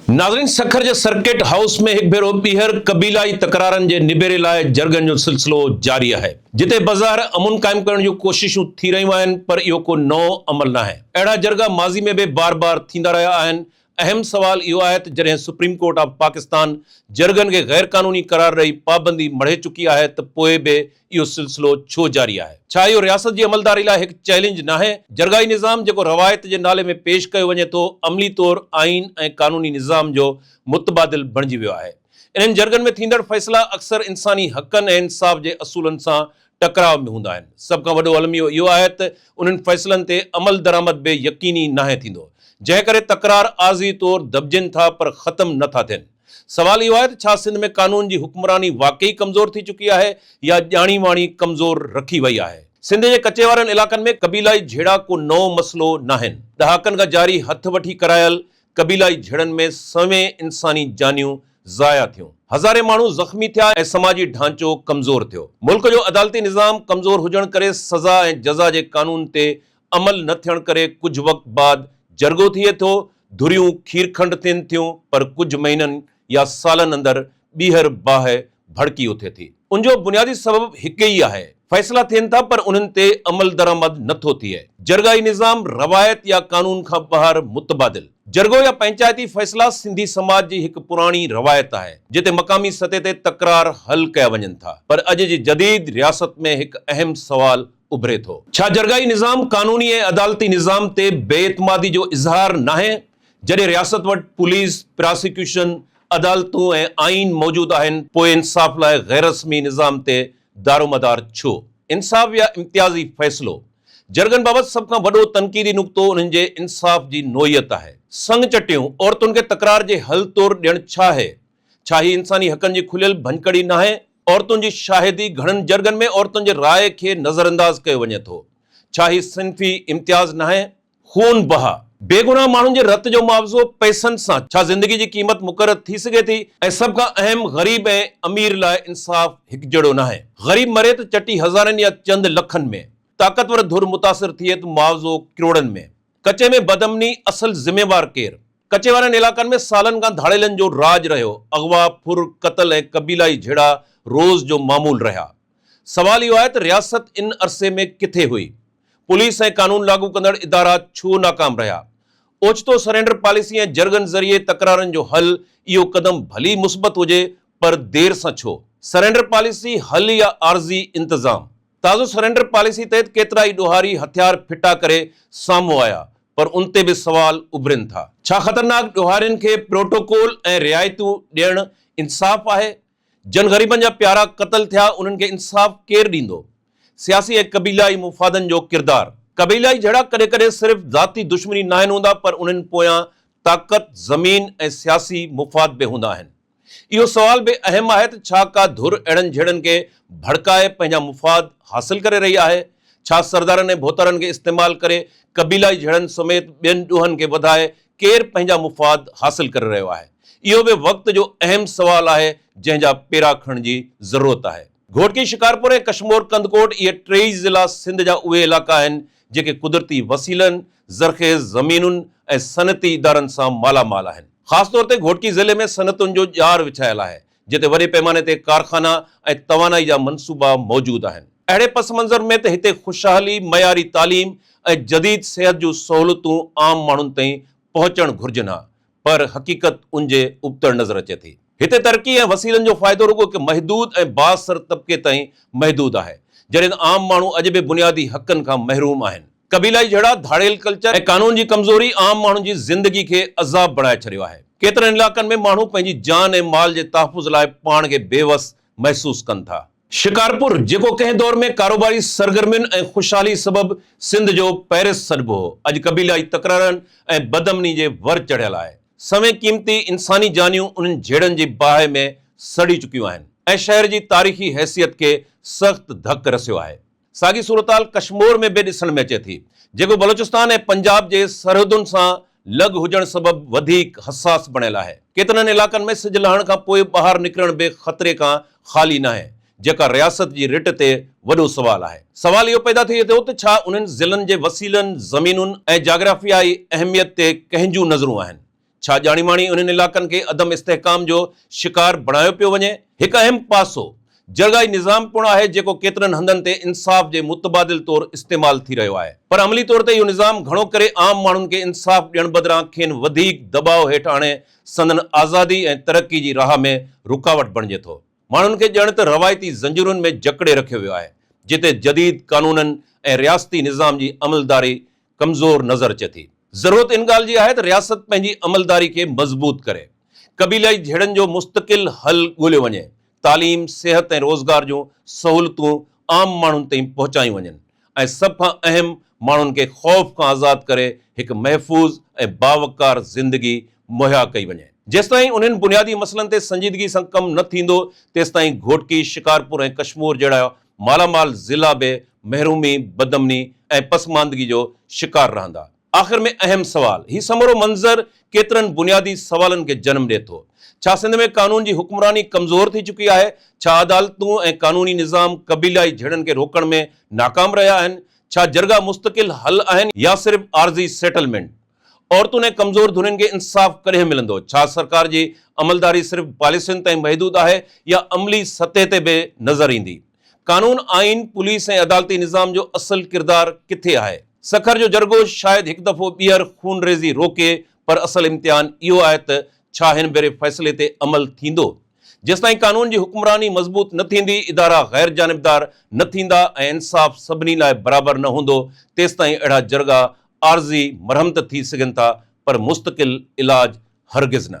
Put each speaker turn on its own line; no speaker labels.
ناظرين سکر جي circuit house ۾ هڪ ڀيرو ٻيهر قبيلائي تڪرارن جي نبيري لاء جرڳن جو سلسلو جاري آهي جتي بظاهر امن قائم ڪرڻ جون ڪوششون ٿي رهيون آهن پر اهو ڪو نئون عمل ناهي اهڙا جرڳا ماضي ۾ به بار بار ٿيندا رهيا آهن اهم سوال اهو آهي ته جڏهن سپريم ڪورٽ آف پاڪستان جرڳن کي غيرقانوني قرار ڏئي پابندي مڙهي چڪي آهي ته پوء به اهو سلسلو ڇو جاري آهي؟ ڇا اهو رياست جي عملداري لاء هڪ چئلينج ناهي؟ جرڳائي نظام جيڪو روايت جي نالي ۾ پيش ڪيو وڃي ٿو، عملي طور آئين ۽ قانوني نظام جو متبادل بڻجي ويو آهي. انهن جرڳن ۾ ٿيندڙ فيصلا اڪثر انساني حقن ۽ انصاف جي اصولن سان ٽڪراء ۾ هوندا آهن. سڀ کان وڏو الميو اهو آهي ته انهن فيصلن تي عملدرآمد به يقيني ناهي ٿيندو، جنهن ڪري تڪرار عارضي طور دٻجين ٿا پر ختم نه ٿا ٿين. سوال اهو آهي ته ڇا سنڌ ۾ قانون جي حڪمراني واقعي ڪمزور ٿي چڪي آهي يا ڄاڻي واڻي ڪمزور رکي وئي آهي؟ سنڌ جي ڪچي وارن علائقن ۾ قبيلائي جهيڙا ڪو نئون مسئلو ناهن، ڏهاڪن کان جاري هٿ وٺي ڪرايل قبيلائي جهيڙن ۾ سوين انساني جانيون ضايع ٿيون، هزارين ماڻهو زخمي ٿيا ۽ سماجي ڍانچو ڪمزور ٿيو. ملڪ جو عدالتي نظام ڪمزور هجڻ ڪري سزا ۽ جزا جي قانون تي عمل نه ٿيڻ ڪري ڪجهه وقت بعد جرڳو ٿئي ٿو، ڌريون کيرکنڊ ٿين ٿيون پر ڪجهه مهينن يا سالن اندر ٻيهر باهه ڀڙڪي اٿي ٿي. ان جو بنيادي سبب هڪ ئي آهي، فيصلا ٿين ٿا پر انهن تي عملدرآمد نه ٿو ٿئي. جرڳائي نظام روايت يا قانون کان ٻاهر متبادل جرڳو يا پنچائتي فيصلا سنڌي سماج جي هڪ پراڻي روايت آهي، جتي مقامي سطح تي تڪرار حل ڪيا وڃن ٿا پر اڄ جي جديد رياست ۾ هڪ اهم سوال اڀري ٿو. ڇا جرڳائي نظام قانوني ۽ عدالتي نظام تي بي اعتمادي جو اظهار ناهي؟ جڏهن رياست وٽ پوليس، پراسيڪيوشن، عدالتون ۽ آئين موجود آهن پوء انصاف لاء غيررسمي نظام تي دارومدار ڇو؟ انصاف يا امتيازي فيصلو؟ جرڳن بابت سڀ کان وڏو تنقيدي نقطو انهن جي انصاف جي نوعيت آهي. سڱ چٽيون عورتن کي تڪرار جي حل طور ڏيڻ ڇا آهي؟ ڇا هي انساني حقن جي کليل ڀڃڪڙي ناهي؟ عورتن جي شاهدي، گهڻن جرڳن ۾ عورتن جي راء کي نظرانداز ڪيو وڃي ٿو. ڇا هي صنفي امتياز ناهي؟ خون بهه. بيگناهه ماڻهن جي رت جو معاوضو پئسن سان، ڇا زندگي جي قيمت مقرر ٿي سگهي ٿي؟ ۽ سڀ کان اهم غريب ۽ امير لاء انصاف هڪجهڙو ناهي. غريب مري ته چٽي هزارين يا چند لکن ۾، طاقتور ڌر متاثر ٿئي ته معاوضو ڪروڙن ۾. ڪچي ۾ بدامني اصل ذميوار ڪير؟ ڪچي وارن علائقن ۾ سالن کان ڌاڙيلن جو راڄ رهيو، اغوا، ڦر، قتل ۽ قبيلائي جهيڙا روز جو معمول رهيا. سوال اهو آهي ته رياست ان عرصي ۾ ڪٿي هئي؟ پوليس ۽ قانون لاڳو ڪندڙ ادارا ڇو ناڪام رهيا؟ اوچتو سرينڊر پاليسي ۽ جرڳن ذريعي تڪرارن جو حل اهو قدم ڀلي مثبت هجي پر دير سان ڇو؟ سرينڊر پاليسي حل يا عارضي انتظام؟ تازو سرينڊر پاليسي تحت ڪيترا ئي ڏوهاري هٿيار ڦٽا ڪري سامهون آيا پر ان تي به سوال اڀرين ٿا. ڇا خطرناڪ ڏوهارين کي پروٽوڪول ۽ رعايتون ڏيڻ انصاف آهي؟ جن غريبن جا پيارا قتل ٿيا انهن کي انصاف ڪير ڏيندو؟ سياسي ۽ قبيلائي مفادن جو ڪردار. قبيلائي جهيڙا ڪڏهن ڪڏهن صرف ذاتي دشمني ناهن هوندا پر انهن پويان طاقت، زمين ۽ سياسي مفاد به هوندا آهن. اهو سوال به اهم آهي ته ڇا ڪا ڌر اهڙن جهڙن کي ڀڙڪائي پنهنجا مفاد حاصل ڪري رهي آهي؟ ڇا سردارن ۽ ڀوتارن کي استعمال ڪري قبيلائي جهڙن سميت ٻين ڏوهن کي وڌائي ڪير پنهنجا مفاد حاصل ڪري رهيو آهي؟ اهو به وقت جو اهم سوال آهي جنهن جا پيرا کڻڻ جي ضرورت آهي. گهوٽڪي، شڪارپور ۽ ڪشمور ڪنڌڪوٽ اهي ٽيئي ضلعا سنڌ جا اهي علائقا آهن جيڪي قدرتي وسيلن، زرخيز زمينن ۽ صنعتي ادارن سان مالا مال آهن. خاص طور تي گهوٽڪي ضلعي ۾ صنعتن جو ڄار وڇايل آهي، جتي وڏي پيماني تي ڪارخانا ۽ توانائي جا منصوبا موجود آهن. اهڙي پس منظر ۾ ته هتي خوشحالي، معياري تعليم ۽ جديد صحت جون سهولتون عام ماڻهن تائين پهچڻ گهرجن ها، پر حقيقت ان جي ابتڙ نظر اچي ٿي. هتي ترقي ۽ وسيلن جو فائدو رڳو هڪ محدود ۽ بااثر طبقي تائين محدود آهي، جڏهن عام ماڻهو اڄ به بنيادي حقن کان محروم آهن. قبيلائي جهيڙا، ڌاڙيل ڪلچر ۽ قانون جي ڪمزوري عام ماڻهن جي زندگي کي عذاب بڻائي ڇڏيو آهي. ڪيترن علائقن ۾ ماڻهو پنهنجي جان ۽ مال جي تحفظ لاء پاڻ کي بيوس محسوس ڪن ٿا. شڪارپور، جيڪو ڪنهن دور ۾ ڪاروباري سرگرمين ۽ خوشحالي سبب سنڌ جو پئرس سڏبو هو، اڄ قبيلائي تڪرارن ۽ بدامني جي ور چڙهيل آهي. سوين قيمتي انساني جانيون انهن جهيڙن جي باهه ۾ سڙي چڪيون آهن ۽ شهر جي تاريخي حيثيت کي سخت ڌڪ رسيو آهي. ساڳي صورتحال ڪشمور ۾ به ڏسڻ ۾ اچي ٿي، جيڪو بلوچستان ۽ پنجاب جي سرحدن سان لڳ هجڻ سبب وڌيڪ حساس بڻيل آهي. ڪيترن علائقن ۾ سج لهڻ کان پوء ٻاهر نڪرڻ به خطري کان خالي ناهي، جيڪا رياست جي رٽ تي وڏو سوال آهي. سوال اهو پيدا ٿئي ٿو ته ڇا انهن ضلعن جي وسيلن، زمينن ۽ جاگرافيائي اهميت تي ڪنهن جون نظرون آهن؟ ڇا ڄاڻي ماڻي انهن علائقن کي عدم استحڪام جو شڪار بڻايو پيو وڃي؟ هڪ اهم پاسو جرڳائي نظام پڻ آهي جيڪو ڪيترن هنڌن تي انصاف جي متبادل طور استعمال ٿي رهيو آهي پر عملي طور تي اهو نظام گهڻو ڪري عام ماڻهن کي انصاف ڏيڻ بدران کين وڌيڪ دٻاء هيٺ آڻي سندن آزادي ۽ ترقي جي راهه ۾ رڪاوٽ بڻجي ٿو. ماڻهن کي ڄڻ ته روايتي زنجيرن ۾ جڪڙي رکيو ويو آهي، جتي جديد قانونن ۽ رياستي نظام جي عملداري ڪمزور نظر اچي ٿي. ضرورت ان ڳالهه جي آهي ته رياست پنهنجي عملداري کي مضبوط ڪري، قبيلائي جهيڙن جو مستقل حل ڳوليو وڃي، تعليم، صحت ۽ روزگار جون سهولتون عام ماڻهن تائين پهچايون وڃن، ۽ سڀ کان اهم ماڻهن کي خوف کان آزاد ڪري هڪ محفوظ ۽ باوقار زندگي مهيا ڪئي وڃي. جيستائين انهن بنيادي مسئلن تي سنجيدگي سان ڪم نه ٿيندو تيستائين گهوٽڪي، شڪارپور ۽ ڪشمور جهڙا مالا مال ضلعا به محرومي، بدامني ۽ پسماندگي جو شڪار رهندا. آخر ۾ اهم سوال، هي سمورو منظر ڪيترن بنيادي سوالن کي جنم ڏئي ٿو، ڇا سنڌ ۾ قانون جي حڪمراني ڪمزور ٿي چڪي آهي؟ ڇا عدالتون ۽ قانوني نظام قبيلائي جهيڙن کي روڪڻ ۾ ناڪام رهيا آهن؟ ڇا جرڳا مستقل حل آهن يا صرف عارضي سيٽلمينٽ؟ عورتن ۽ ڪمزور ڌرين کي انصاف ڪڏهن ملندو؟ ڇا سرڪار جي عملداري صرف پاليسين تائين محدود آهي يا عملي سطح تي به نظر ايندي؟ قانون، آئين، پوليس ۽ عدالتي نظام جو اصل ڪردار ڪٿي آهي؟ سکر جو جرڳو شايد هڪ دفعو ٻيهر خونريزي روڪي پر اصل امتحان اهو آهي ته ڇا هن ڀيري فيصلي تي عمل ٿيندو؟ جيستائين قانون جي حڪمراني مضبوط نه ٿيندي، ادارا غير جانبدار نه ٿيندا ۽ انصاف سڀني لاء برابر نه هوندو تيستائين اهڙا جرڳا عارضي مرهمت ٿي سگهن ٿا پر مستقل علاج هرگز نه.